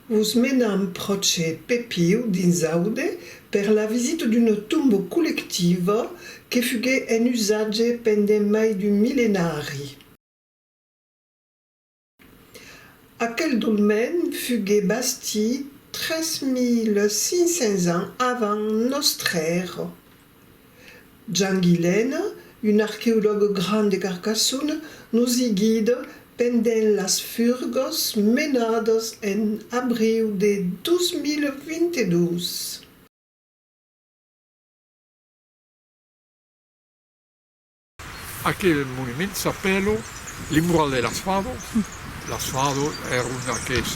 Us menam pròche Pepiu dins Aude per la visita d'una tomba collectiva que fuguèt en usatge pendent mai d'un millenari. Aquel dolmen fugué bastit 3500 ans avant nòstre èra. Jean Guilène, un arqueològ grand de Carcassonne, nos i guida pendent las furgas menadas en abriu de 2022. Aquel monument s'apèlo le mural de las fados, las fados èron aqueles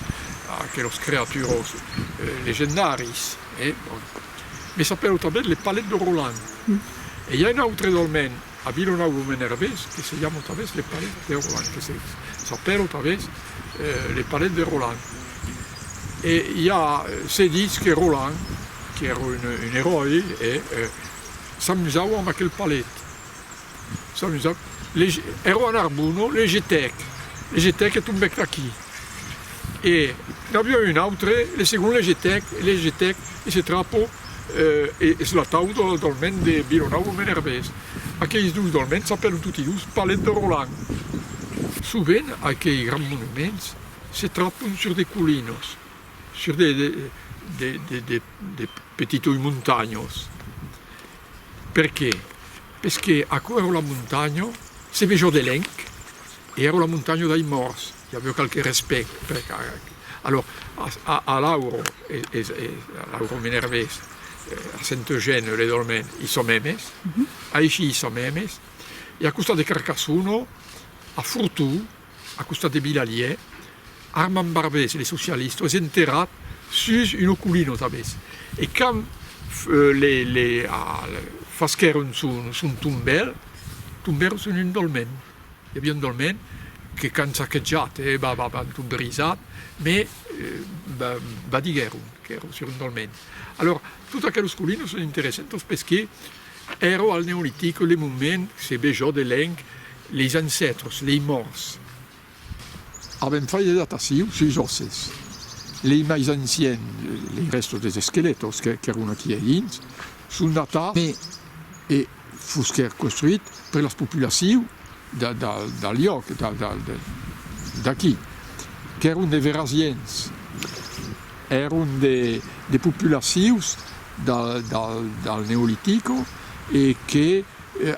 aquelos creaturos legendaris e bon me s'apèlo tanben le palet de Roland e i a un autre dolmen a Vilanòu lo Menervés que se jamo tanben le palet de Roland que se s'apèlo tanben le palet de Roland e i a se ditz que Roland qu'èra un eròi e s'amusava amb aquel palet. Ero a Narbona, le Getèc, le Getèc e tombèc d'aquí e n'aviá un autre, le segond le Getèc, e le Getèc e se trapo e es l'atau del dolmen de Vilanòu o Menervés. Aqueis dus dolmens s'apèlan toti dus Palet de Roland. Sovent aquei grands monuments se trapon sur de colinas, sur de petitoi montanhas. Perqué? Pesqué aquò èra ua montanha, se vejó de lenc, e èra ua montanha dai mòrts, i aveu qualque respect per Carac. Alò, a Lauro, e Lauro Minervés, a Senteugen, le dolmen, i sò memes, aicí i sò memes, e a costat de Carcassona, a Fortú, a costat de Bilaliè, Armand Barbès, le socialista, es enterrat sus una colina tanbes, e quand le fasquèron son tombèl, tombèron sus un dolmen, i aviá un dolmen que qu'an saquejat, an tot brisat, mes badiguèron qu'èra sus un dolmen. Alòrs, totes aqueles colinas son interessantas perqué. Ero al Neolitic le moment se bejò de lèng leis ancètres, lei mòrts. Avèm fai de dataciu suis òsses. Lei mais anciens, lei rèstos des esquelètos qu'èron aquí a dins, son datats e e fusquèr construit per las populaciu da da dal lloc, da da d'aquí, qu'èron de verasiens, èron de de populacius. del Neolitico e que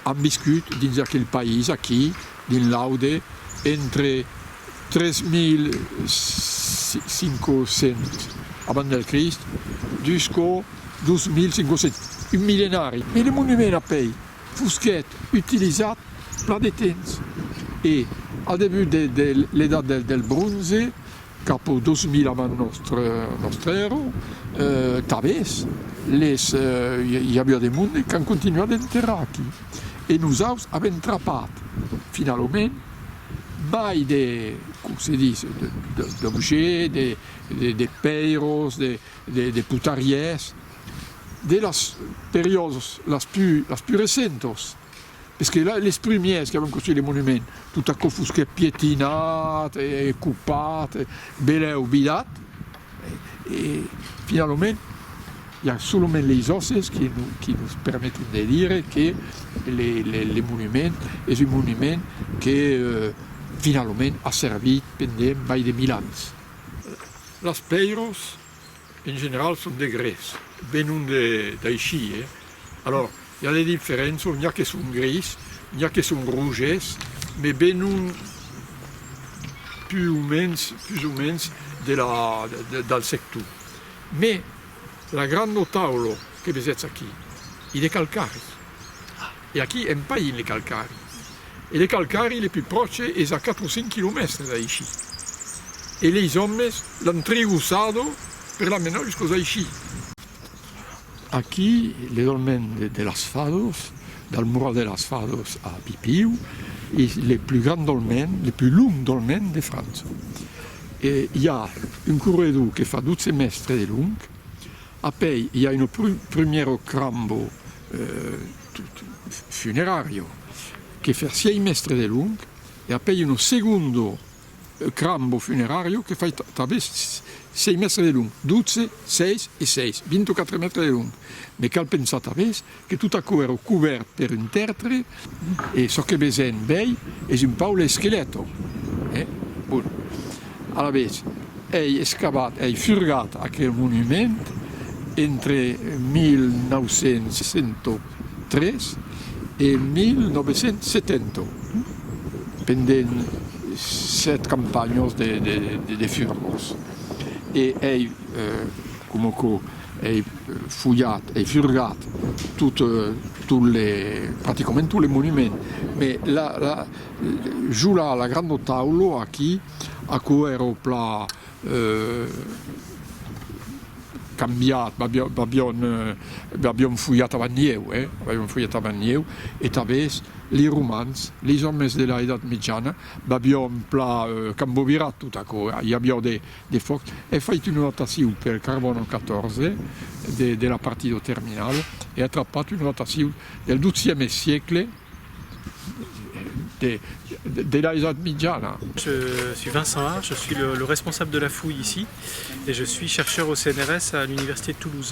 an viscut dins aquel país aquí dins l'aude entre 3500 abans del Crist jusqu'au 2500, un millenari. E le monument a pei fusquèt utilizat plan de temps e al debut de l'Edat del Bronze, Cap au 2000 avant nòstre nòstre èrra, tabès, les i aviá de monde qu'an continuat d'enterrar aquí, e nosaus avèm trapat, finalament, mai de, com se ditz, d'objets, de de de pèiros, de de de putarièrs, de las periòdas las plus las plus recentas, Es que les primièrs que avèm construit le monument, tot aquò fosquèt pietinat e copat e belèu vidat, e finalament i a solament leis òsses qui nos permeten de dire que le monument es un monument que finalament a servit pendent mai de mil ans. Las pèiros En general son de gres, venon d'aishí, e alors i a de diferençon, n'i a que son gris, n'i a que son roges, me venon pus o mens, pus o mens de la del sector. Me la grano taulo que vesetz aquí, i de calcari. E aquí en païn le calcari. E le calcari le pus pròche es a quatre o cinc quilomèstres d'aicí. E leis òmes l'an triussado per la menar juscos aicí. Aquí le dolmen de las Fados, dal Mural de las Fados a Pipiu, es le pus grand dolmen, le pus long dolmen de França. E i a un corredor que fa dotze mèstres de long. Apèi i a un prumèro crambo funerario, que fersiei mèstre de long, e apèi uno segundo crambo funerario que fai tanben sei mèstre de long, dotze, seis e seis, vint-e-quatre mètres de long. Me cal pensar tanben que tot aquò èra cobèrt per un tèrtre, E çò que vesen bèi es un paule esqueleto. E, bon, alavetz, ei escavat, ei furgat aquel monument entre 1903 e 1970, pendent sèt campanhos de furgons. E ei, coma quò, Ei fulhat, ei furgat tot, tot le, practicament tot le monument, me la, la, jo la, la grando taulo aquí, aquò ero pla cambiat, b'avion, b'avion fulhat avant ieu, eh, b'avion fulhat avant ieu, e tanbés li Romans, li òmes de la Edat Mitjana, b'avion pla cambovirat tot aquò, i avió de, De fòc, è fait una rotacion per carbòno 14 de la partidor terminal e a trapat una rotacion del dozieme siecle de l'Aizòt Mitjana. Je suis Vincent Hard, je suis le responsable de la fouille ici et je suis chercheur au CNRS à l'université de Toulouse.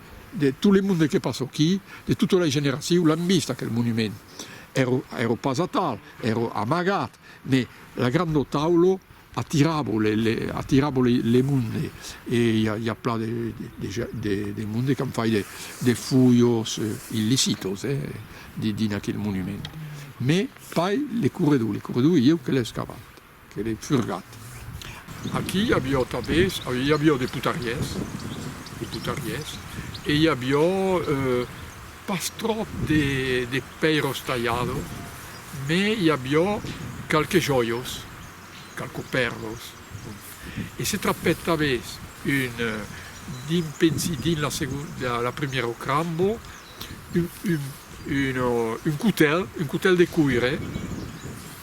De tot le monde que passa aquí, de tota la generacion l'an vist aquel monument. Ero pas atal, ero amagat, me la granda taula atiravo le monde e i a plan de monde qu'an fait de fujos illicitos dins aquel monument. Me, pas le corredor, le corredor ieu que l'è escavat. Que l'ai furgat. Aquí i avió tabés, i avió de putariés, de putariés, e i avió pas tròp de pèiros talhados, me i avió qualques jòios, qualques pèrlos, bon. E se trapèt tabés un, dins, pensi, dins la segon, la primièro crambo, un, un, un cotèl, un cotèl de coire,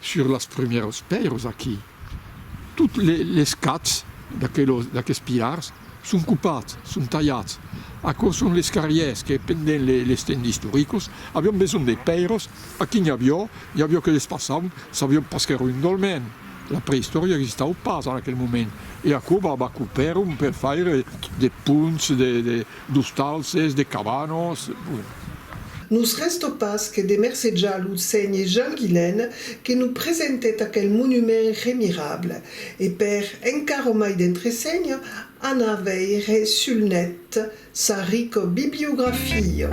Sur las prumèros pèiros aquí, tot les cats d'aqueles pilars son copats, son talhats. Aquò son les carrièrs que pendent les temps istoricos avion besonh de pèiros, aquí n'i avió, n'i avió que les passaun, sabion pas qu'èra un dolmen, la preïstòria existau pas en aquel moment, e aquò va copèron per faire de ponts, de. D'ostalses, de cabanos, bon. Nos rèsta pas que de mercejar lo senhe Jean Guilèn que nos presentèt aquel monument remirable, e per encara mai d'entresenha, anar veire sul net sa rica bibliografia.